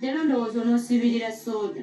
Leero ndowooza onoosibirira sooda.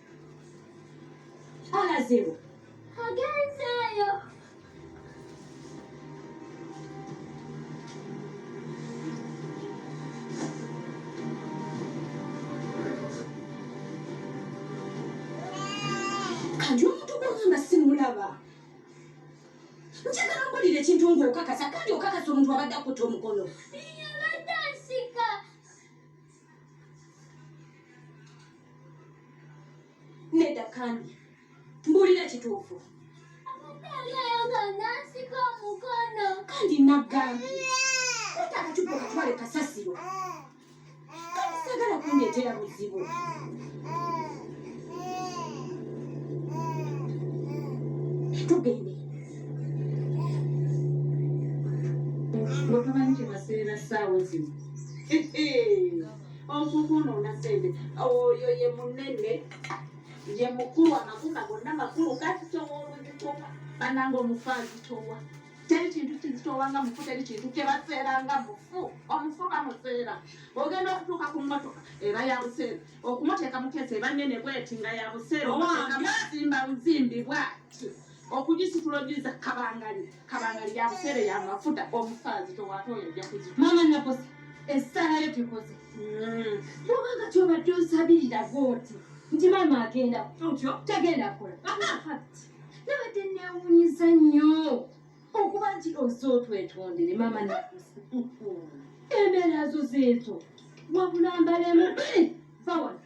Alazeewo agenzeeyo kati omuntu gwagamba simulaba njagala mpulira ekintu ng'okakasa kandi okakasa omuntu abadde akutta omukono nedda kandi mbuulira kituufu kandi naggambi kata akacupa okatwale kasasiro kati sagala kundeetera buzibu tugende bwekamanyi kyebaseera saawa zino osukunona sente oyo ye munene ye mukulu amakuma gonna makulu kasitowa oluzitowa bananga omufu azitowa teri kintu kizitowa nga mufu teri kintu kyebaseera nga mufu omufu bamuseera ogenda okutuuka ku mmotoka eba ya buseera okumuteeka mukeesa eba nene bweti nga ya buseera omuteeka muzimba buzimbi bwati okugisitula ogiza kabangali kabangali yabuseere yamafuta omufaazi tewate oyo ajja kuzi mama nakoze esalayo tekoze yobanga hmm. kyobadde osabirira goti nti mama agenda otyo tagenda kola nabadde newunyiza nnyo okuba nti oze otwetondere mama nakoze embeera zo zeezo wabula mbalemu vawana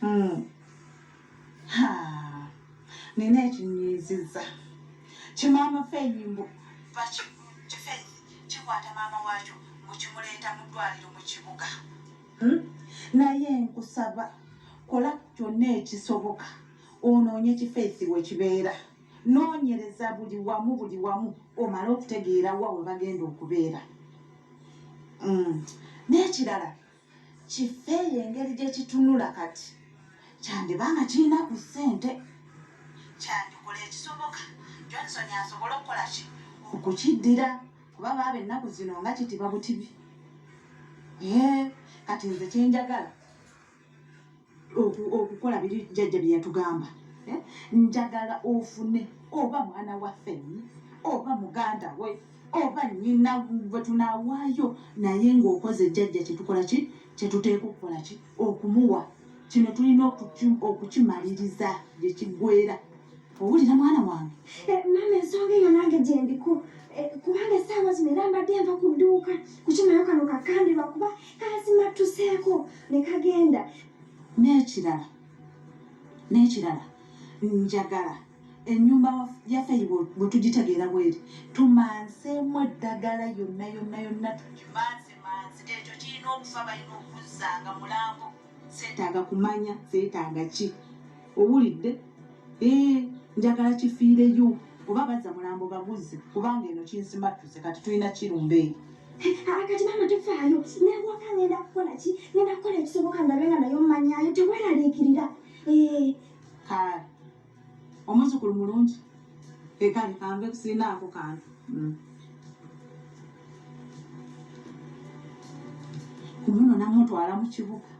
Hmm. Ha. Nina ekinyiiziza. Kimaama Feyimbo. Baki kifeeyi kikwata maama waakyo mu kimuleeta mu ddwaliro mu kibuga. Hmm? Naye nkusaba kola kyonna ekisoboka onoonye kifeesi we kibeera. Noonyereza buli wamu buli wamu omale okutegeera wa we bagenda okubeera. Hmm. N'ekirala. kifeeyo engeri gye kitunula kati kyandiba nga kirina ku ssente kyandikola ekisoboka johnson asobole okukola ki okukiddira kuba baaba ennaku zino nga kitiba butibi kati nze kyenjagala okukola biri jjajja bye yatugamba eh? njagala ofune oba mwana waffe oba muganda we oba nyina gwe tunaawaayo naye ng'okoze jjajja kyetukola ki kyetuteeka okukola ki okumuwa kino tulina okukimaliriza gye kiggwera owulira mwana wange eh, maama ensonga eyo nange gyendiko eh, kubanga esaawa zino era mbadde nva ku dduuka kukimalayo kano kakambirwa kuba kazimattuseeko ne kagenda n'ekirala n'ekirala njagala enyumba yaffe bwetugitegeera bweri tumanseemu eddagala yonna yonna yonna tugimansemanse ekyo kirina okufa balina okuzanga mulambo zeetaaga kumanya zeetaaga ki owulidde ee eh, njagala kifiireyo oba bazza mulambo baguzze kubanga eno kinsimattuse kati tulina kirumba eyo akati maama tofaayo newaka ngenda kukola ki ngenda kukola ekisoboka ndabe nga naye omanyayo teweraliikirira eh. kale omuzukulu mulungi ekale kanve kusinaako kantu mm. kumuno namutwala mu kibuga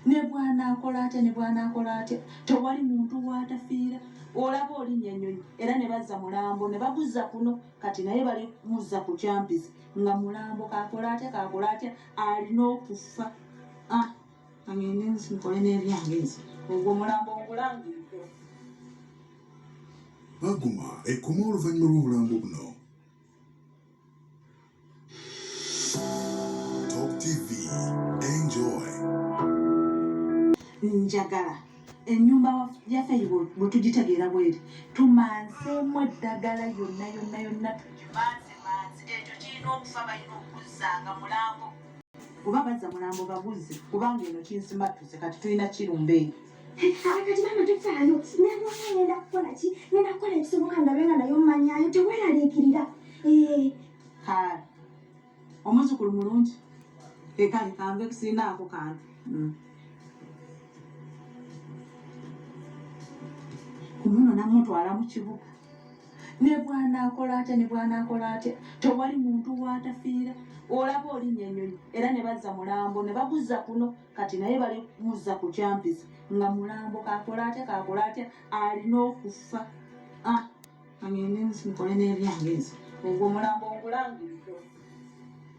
ne bwanaakola atya ne bwanaakola atya tewali muntu waatafiira olaba olinya ennyonyi era ne bazza mulambo ne baguzza kuno kati naye bali muzza ku kyampizi nga mulambo kakola atya kakola atya alina okufa ah. kangende nsi nkole n'ebyange nsi ogwo omulambo ngulangiriko baguma ekoma oluvannyuma lw'obulambo buno top tv enjoy njagala enyumba yaffe eyo bwetugitegeera bweri tumanseemu eddagala yonna yonna yonna tugimansemanse ekyo kirina okufa balina okuzanga mulambo oba bazza mulambo baguzze kubanga eno kinsimattuse kati tulina kirumba eyo akati mama tofaayo nalwala ngenda kukola ki ngenda kukola ekisoboka ndabe nga naye omanyayo teweraliikirira eh. haa omuzukulu mulungi ekale kanve kusirinaako kantu hmm. kumuno namutwala mu kibuga ne bwanaakola atya ne bwanaakola atya tewali muntu waatafiira olaba olinya enyonyi era ne bazza mulambo ne baguzza kuno kati naye bali muzza ku kyampizi nga mulambo kakola atya kakola atya alina okufa ah, angenensi mukole n'ebyange nze ogwo mulambo ngulangiridde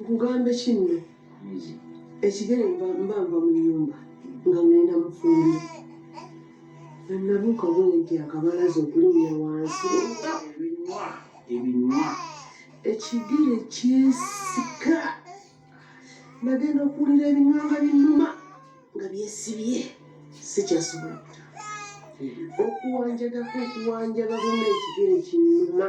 nkugambe kinno ekigere mba nva mu nyumba nga ngenda mufumbi nanabuuka bwenti akabalaza okulinya wansi ebinywa ekigere kyesika nagenda okuwulira ebinywa nga binuma nga byesibye sikyasobola okuwanjagako okuwanjaga buna ekigere kinuma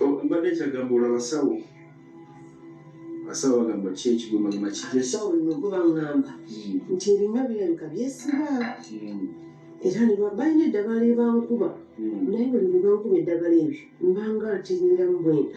Oh, mbadde kyagamba olabasawo abasawo bagamba ki ekigomagoma kijja sawo lino guba ngamba nti ebinywa birabika byesiba era ne ba- balina eddagala ebankuba naye buli lwe bankuba eddagala ebyo mbanga ntirindamu bwenda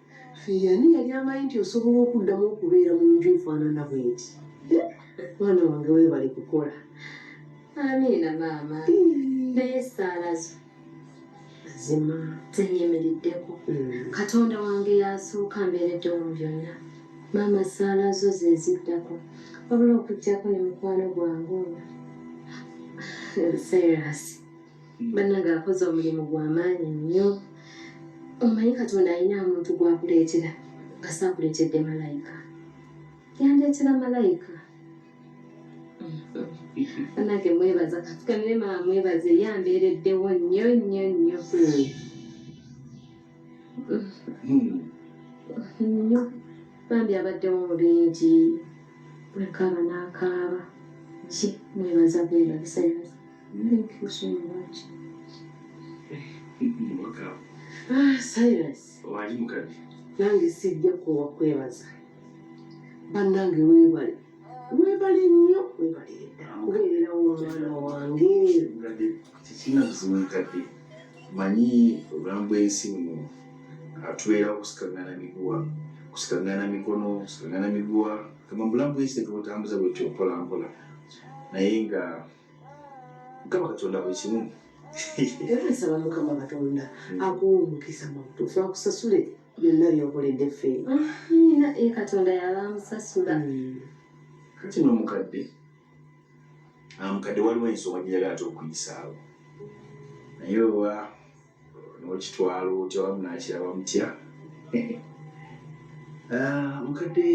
Ffe ani yali amanyi nti osobola okuddamu okubeera mu nju efaanana bweti? Mwana wange weebale kukola. Amiina maama. Naye essaala zo mazima zenyimiriddeko. Mm. Katonda wange y'asooka mbeereddewo mu byonna. Maama essaala zo ze ziddako wabula okuggyako ne mukwano gwange ono Cyrus. banange akoze omulimu gwamaanyi nnyo omanyi katonda alina omuntu gwakuleetera kasaakuleetedde malayika yandeetera malayika banange mwebaza katukanire maa mwebaze yambeereddewo nnyo nnyo nnyo nnyo bambi abaddewo mu bingi bwekaaba n'akaaba ki mwebaza bwebaza Thank you so much. Ah, Silas. Wali mukadde. Nange sijja kuwa kwebaza. Bannange weebale. Weebale nnyo weebale edda kubeererawo omwana wange. Tekirina buzibu mukadde. Manyi obulamu bw'ensi buno atubeerawo kusikangana miguwa kusikangana mikono kusikangana miguwa kama bulamu bw'ensi tetubutambuza bwetyo mpola mpola naye nga mukama katonda buli kimu era nsaba mukama katonda hmm. akuwa omukisa mu butuufu akusasule byonna byokoledde ffe nina e katonda yaba amusasula hmm. kati nomukadde amukadde ah, waliwo ensonga gyeyaga ate okuyisaawo naye oba nokitwalo otya wamu nakiraba mutya ah, mukadde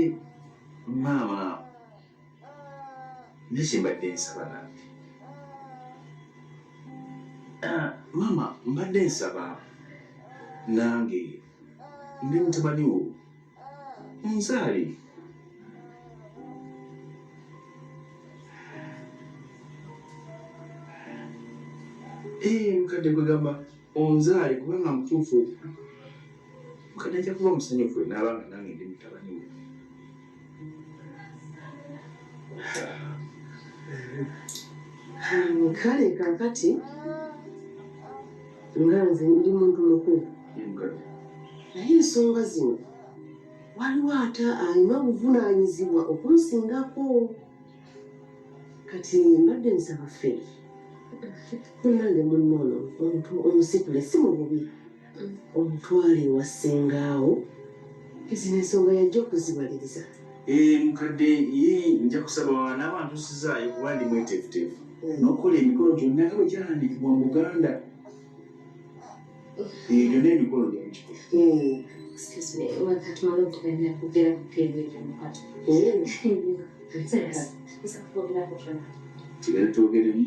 maama nyo kyembadde nsaba nange ah, maama mbadde nsaba nange ndi mutabani wo onzaale eh, mukadde gwegamba onzaale kubanga mutuufu mukadde ajja kuba omusanyufu naabanga nange ndi mutabani wo kale kakati nga nze ndi muntu mukulu naye ensonga zino waliwo ate alina obuvunaanyizibwa okunsingako kati mbadde nsaba ffe kunnange munnoono omuntu omusitule si mu bubi omutwale ewa ssengaawo ezino ensonga yajja okuzibaliriza eh, mukadde ye nja kusaba n'abantu sizaayo kuba ndi mweteefuteefu hmm. n'okukola emikolo gyonna nga bwe gyalandiikibwa mu buganda eh, gyonna emikolo gyamukiko hmm. hmm. tugere twogeremu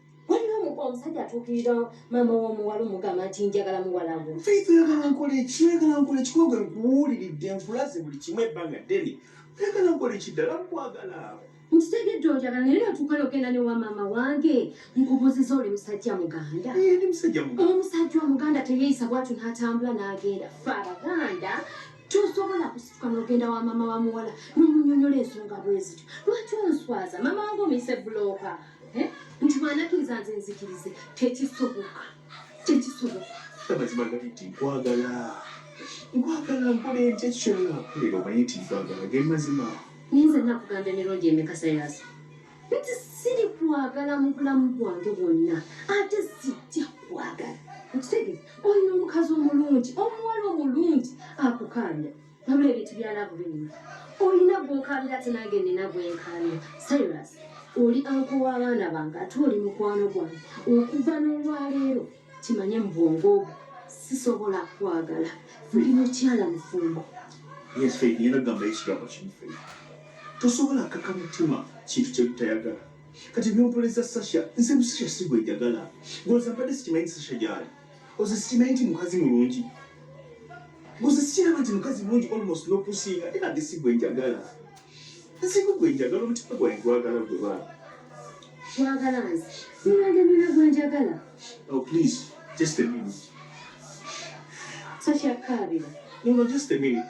waliwo omuko omusajja atuukirira maama w'omuwala omugamba nti njagala muwalamu faith oyagala nkola eki oyagala nkola ekikogwe nkuwuliridde nkulaze buli kimu ebbanga ddene oyagala nkola ekiddala nkwagala nkitegedde ojagala naye natuuka nogenda ne wa maama wange nkubuuziza oli musajja muganda omusajja omuganda teyeeyisa bwatu n'atambula n'agenda fe abaganda tosobola kusituka nogenda wa maama wa muwala nomunyonyola ensonga bwezityo lwaki onswaza maama wange omuyise bulooka eh? nti bwanakiriza nze nzikirize tekisoboka tekisoboka amazima gali nti nkwagala nkwagala nkola enti ekyo kyona nakolera omanyi nti nkwagala ge mazima naye nze nakugamba emirundi emikasa yazo nti siri kwagala mu bulamu bwange bwonna ate sijja kwagala okitegeeza olina omukazi omulungi omuwala omulungi akukaanya wabula ebintu bya laavu binyuma olina gwokaabira ate nange nina gwenkaabira cyrus oli anko w'abaana bange ate oli mukwano gwange okuva n'olwaleero kimanye mu bwongo obwo sisobola kwagala ndi mukyala mufumbo tosobola kaka mutima kintu kyebutayagala kati byompoleza sasha nze musasha sigwejagala ngoza mbadde sikimanyi sasha gyali oze sikimanyi nti mukazi mulungi oze sikiraba nti mukazi mulungi almost nokusinga era nge si gwe njagala nsiku gwe njagala omutima gwange gwagala gwe baaba wagala nze sinandemera gwe njagala oh please just a minute so kyakkaabira no no just a minute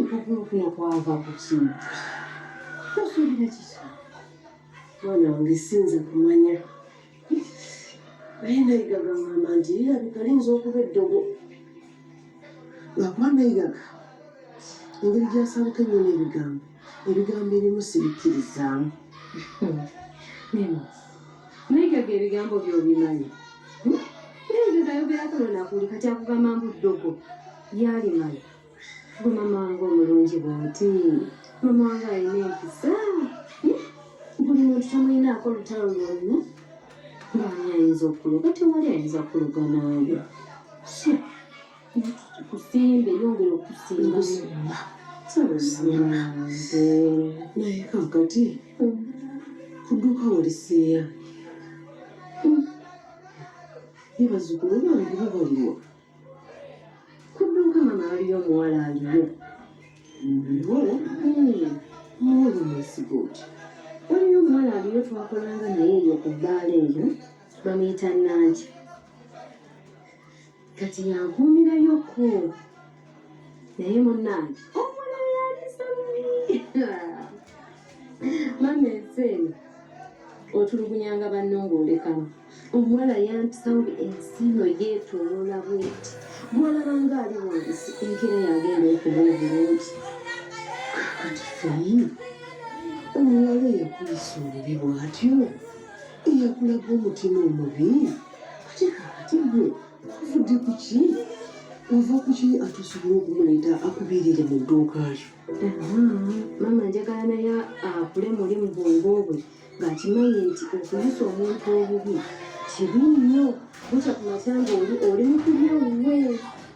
Nkukurukuno kwava ku kimu. Tosuubira kiki? Mwana wange sinza kumanya. Naye Nayiga gangamba nti lirabika liyinza okuba eddogo. Lwakuba Nayiga engeri gy'asabuka ennyo n'ebigambo, ebigambo ebimu sibikkirizaamu. Nemo. Naye gaga ebigambo byobimanyi hmm? naye gaga ayogerako nonakuli kati akugamba mbu ddogo yalimanyi gwe mama wange omulungi bwoti mama wange alina empisa hmm? buli muntu tamulinaako olutalo lwonna ngaani ayinza okuloga tewali ayinza kuloga naawe kusimbe yongera okusimba naye kakati kuduka olisiya ye bazukulu bange babaliwa kuduka mama aliyo omuwala aliyo muwoli mwesiga oti waliyo omuwala aliyo twakolanga naye eyo ku bbaala eyo bamuyita nanti kati yankuumirayo ko naye munnange omwana yalisa mubi mama ensi eno otulugunyanga banno ng'olekamu omuwala yantusawo ensi no yeetoloola bweti bwolaba nga ali wansi enkera yagenda okuba obulungi kakati feyi omuwala eyakuyisa obubi bwatyo eyakulaga omutima omubi tuvudde ku ki ova ku ki ate osobola okumuleeta akubiirire mu dduuka lyo maama njagala naye akule muli mu bwongo bwe ng'akimanyi nti okuyisa omuntu obubi kibi nnyo bukya ku matya ng'oli oli mukubye wuwe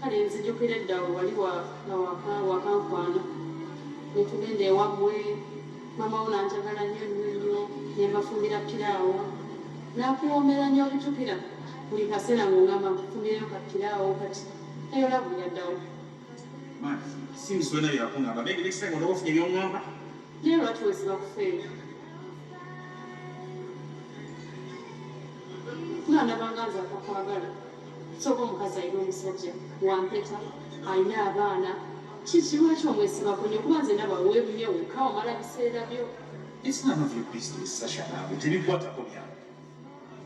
Kale nzijukira edda we wali wa nga waka wakankwana ne tugenda ewammwe maama wo nanjagala nnyo nnyo nnyo ne mbafumbira piraawo nakuwoomera nnyo okujukira buli kaseera ng'ongamba nkufumireyo ka piraawo kati eyo lavu yaddawo Man, since when are you up on that? Maybe next time we'll off the young number. naye lwaki wesiba kufeera nga ndabanga nze akakwagala Soka omukazi alina omusajja wampeta alina abaana kiki lwaki omwesibako nyo kuba nze naba webunye wekka omala biseera byo tebikwatako byange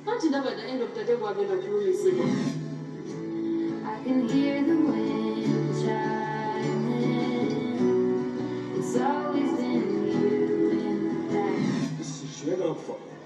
anti ndaba the end of the day bwagenda kulumizibwa I can hear the wind chiming. It's always in you in the back. This is your love for me.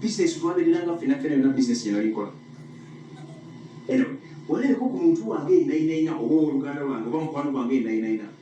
business twandelera nga ffena ffena yona business gyenalikola walabeko ku muntu wange enainaina oba owoluganda lwange oba mukwano gwange enainaina